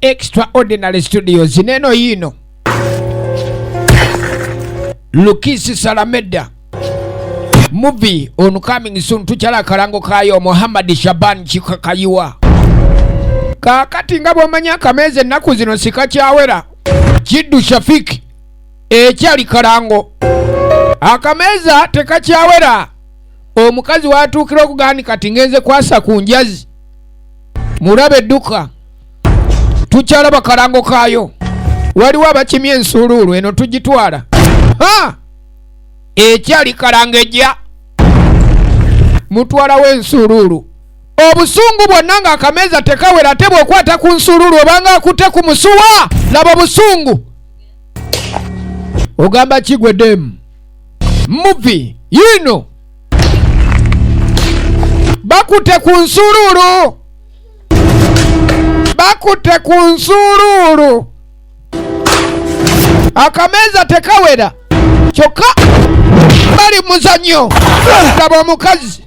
Extraordinary Studios neno yino Lukisi Salameda movie on coming soon tukyala akalango kayo Muhammad Shaban Kikayiwa kakati nga bwomanya akameeza ennaku zino sikakyawera Kiddu Shafiki ekyali kalango akameeza tekakyawera omukazi watuukira okugaa ni kati ngenze kwasa ku njazi mulabe dduka tukyalaba kalango kaayo waliwo abakimya ensuuluulu eno tugitwala ekyali kalango ejja mutwalawo ensuuluulu obusungu bwonna ng'akameeza tekawera ate bw'okwata ku nsuuluulu obanga akutte ku musuwa laba obusungu ogamba kigwe demu muvi yiino bakutte ku nsuluulu bakutte ku nsuluulu akameeza tekawera kyokka bali muzanyo laba omukazi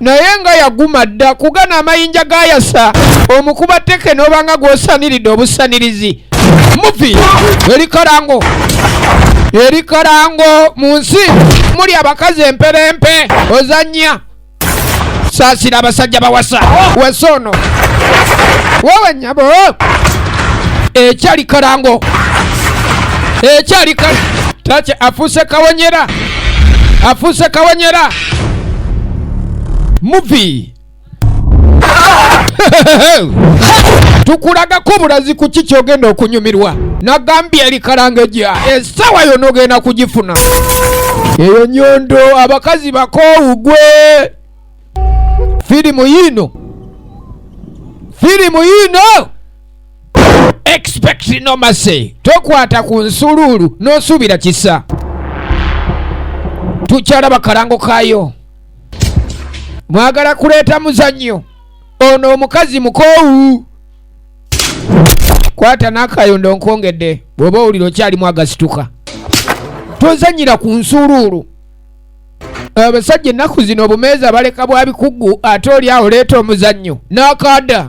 naye nga yaguma dda kugana amayinja gayasa omukuba teke nobanga gwosaniridde obusanirizi muvi eri kalango eri kalango mu nsi muli abakazi emperempe ozanya saasira abasajja bawasa wasa ono wewe nyabo ekyali kalango ekyali kal tace afuuse kawonyera afuuse kawanyera muvi tukulagako obulazi ku ki kyogenda okunyumirwa nagambye erikalanga eja esawa yona ogenda kugifuna eyo nyondo abakazi bakoowu gwe firimu yiino firimu yiino expect no mercy tokwata ku nsuluulu n'osuubira kisa tukyalaba kalango kaayo mwagala kuleeta muzannyo ono omukazi mukoowu kwata n'akayondo nkongedde bw'oba owulira okyalimu agasituka tozanyira ku nsuuluulu abasajja ennaku zino obumeeza baleka bwa bikugu ate oli awo leeta omuzannyo n'akaada